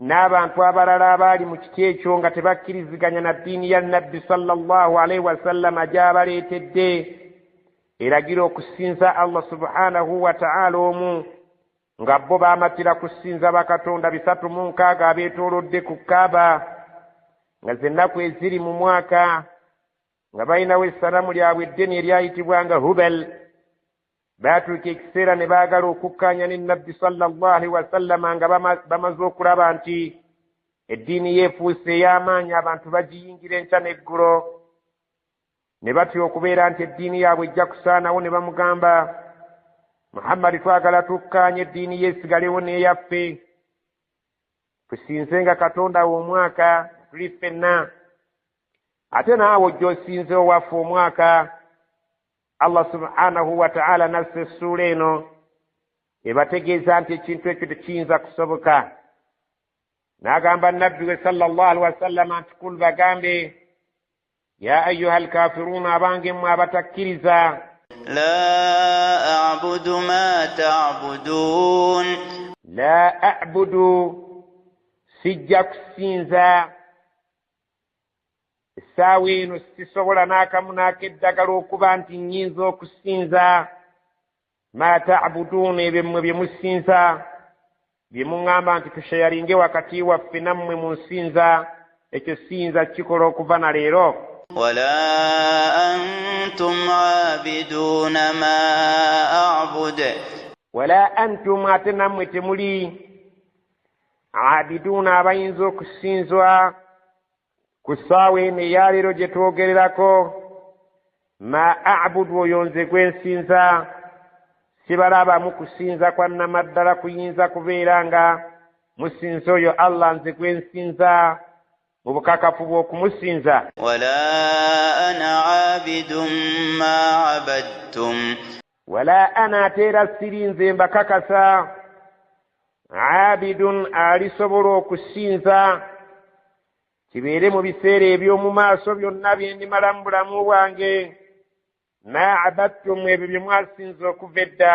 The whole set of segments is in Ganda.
N'abantu abalala abaali mu kiti ekyo nga tebakkiriziganya na ddiini ya Nabbi sallallahu alaihi wasallama gy'abaleetedde eragira okusinza Allah subhanahu wa ta'ala omu nga bo baamatira kusinza bakatonda bisatu mu nkaaga abeetoolodde ku Kaaba nga z'ennaku eziri mu mwaka nga balinawo essanamu lyabwe eddene eryayitibwanga Hubal baatuuka ekiseera ne baagala okukkaanya ne nabbi sallallahu wasallama nga bamaze okulaba nti eddiini yeefuuse ey'amaanyi abantu bagiyingira enkya n'eggulo ne batya okubeera nti eddiini yaabwe ejja kusaanawo ne bamugamba muhammadi twagala tukkaanya eddiini yeesigalewo n'eyaffe tusinze nga katonda we omwaka tuli ffenna ate naawe ojja osinze owaffe omwaka allah subhanahu wataala nassa essuula eno ebategeeza nti ekintu ekyo tekiyinza kusoboka n'agamba nabbi we sala llah alihi wasallama nti kul bagambe ya ayuha alkafiruuna abange mmwe abatakkiriza la abudu ma tabudun la abudu sijja kusinza essaawa eno sisobola n'akamu n'akeddagala okuba nti nnyinza okusinza ma tabuduuna ebyo mmwe bye musinza bye muŋŋamba nti tusheyalinge wakati waffe nammwe mu nsinza ekyo siyinza kukikola okuva na leero wala antum abiduuna ma abud wala antum ate nammwe temuli abiduuna abayinza okusinzwa ku ssaawa eno eyaleero gye twogererako ma abudu oyo nze gwe nsinza sibalabamu kusinza kwa namaddala kuyinza kubeera nga musinza oyo allah nze gwe nsinza mu bukakafu bw'okumusinza wala ana abidun ma abadtum wala ana ate era siri nze mbakakasa abidun alisobola okusinza kibeere mu biseera eby'omu maaso byonna bye ndimala mu bulamu bwange ma abattum ebyo bye mwasinza okuva edda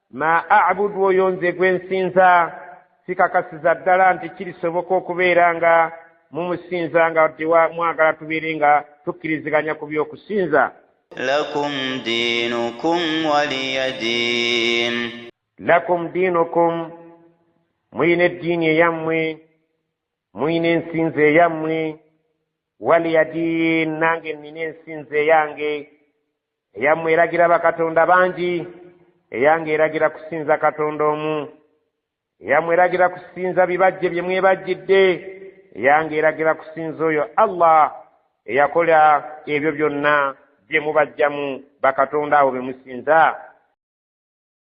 Ma a'budu oyo nze gwe nsinza sikakasiza ddala nti kirisoboka okubeera nga mumusinza nga mwagala tubeere nga tukkiriziganya ku by'okusinza. Lakum diinukum waliya diin. Lakum diinukum muyina eddiini eyammwe muyina ensinza eyammwe waliya diin nange nnina ensinza eyange Eyammwe eragira bakatonda bangi, eyange eragira kusinza Katonda omu. Eyammwe eragira kusinza bibajje bye mwebajjidde, eyange eragira kusinza oyo Allah eyakola ebyo byonna bye mubajjamu bakatonda abo be musinza.